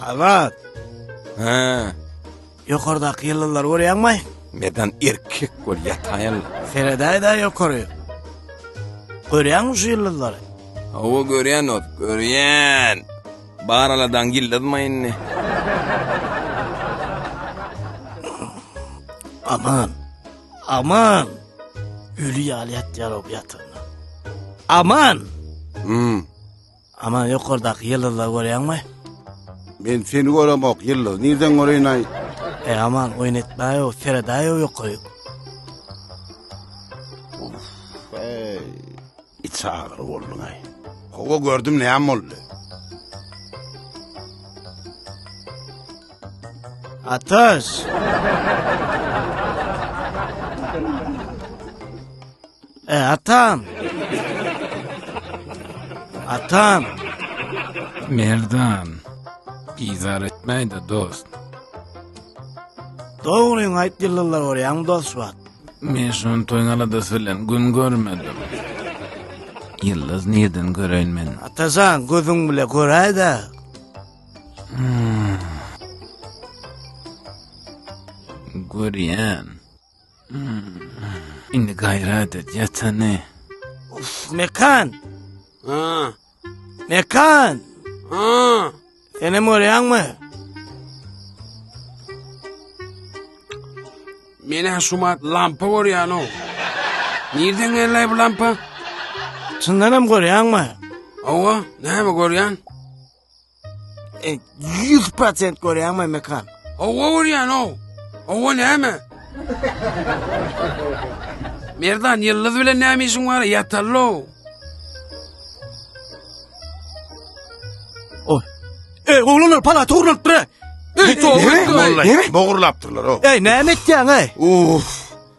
Azat! Hä? Ýokardaky ýyldyzlary görýäňmi? Medan erkek bol, ýataýyn. Seredäý-dä ýokary. Görýäňmi şu ýyldyzlary? Hawa, görýän ot, görýän. Bar aladaň ýyldyzmy indi? Aman! Aman! Öli ýaly ýatýar o bu ýatagynda. Aman! Hum. Aman ýokardaky ýyldyzlary görýäňmi? Men seni göremok, ýyldyzy nirden göreýin-aý? Eý, Aman, oýun etmäý-ow, seredäý-ow ýokaryk. Uff-eý, içi agyr bolduň-aý. Hawa, gördüm, näme boldy? Atyş! E, atam! Atam! Merdan, bizar etmäý-de, dost. Dogryňy aýt, ýyldyzlar görýäňmi, dost wagt? Men şony toýun aladasy bilen gün görmedim. Ýyldyz nirden göreýin men? Atajan, gözüň bile göräý-dä. Görýän. Indi gaýrat et, ýatany. Uf, Mekan! Ha. Mekan! Ha. Senem görýäňmi? Meni şumat lampa görýän o. Nirden geldi bu lampa? Çyndan hem görýäňmi? Owa, näme görýän? E, Ýüz prosent görýäňmi mekan? Owa görýän ow. Owa näme? Merdan ýyldyz bilen näme işiň bar? Ýatallo. Oy. Ey oglanlar pala togrulyp dur. Ey, Näme? Näme? Bogurlapdyrlar o. Ey näme etýäň ey? Uf.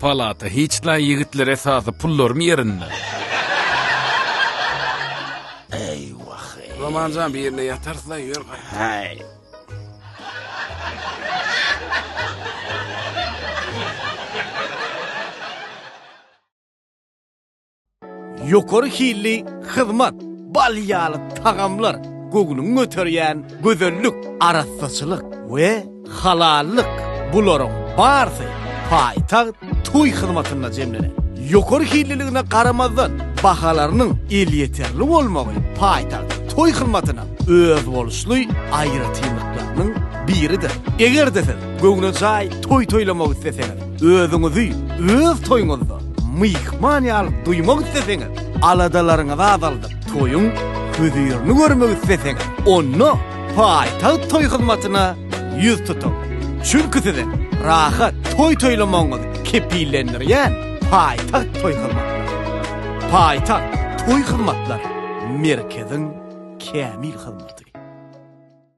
Palata hiç naý ýigitler esasy pullarym ýerinde. Eýwah eý. Romanjan bir ýerde ýatar sylaý ýör gaý. Haý. Ýokary hilli hyzmat, bal ýaly tagamlar, göwnüňi göterýän gözellik, arassaçylyk we halallyk, bularyň barsy paýtagt toý hyzmatynda jemlener. Ýokary hilliligine garamazdan, bahalarynyň elýeterli bolmagy paýtagt toý hyzmatynyň özboluşly aýratynlyklarynyň biridir. Eger-de siz göwnejaý toý toýlamak isleseňiz, Özüňizi öz toýuňyzda myhman ýaly duýmak isleseňiz, aladalaryňyzy azaldyp, toýuň hözirini görmek isleseňiz, onda Paýtagt toý hyzmatyna ýüz tutuň. Çünki siziň rahat toý toýlamagyňyzy kepillendirýän Paýtagt toý hyzmatlary. Paýtagt toý hyzmatlary merkeziň kämil hyzmaty.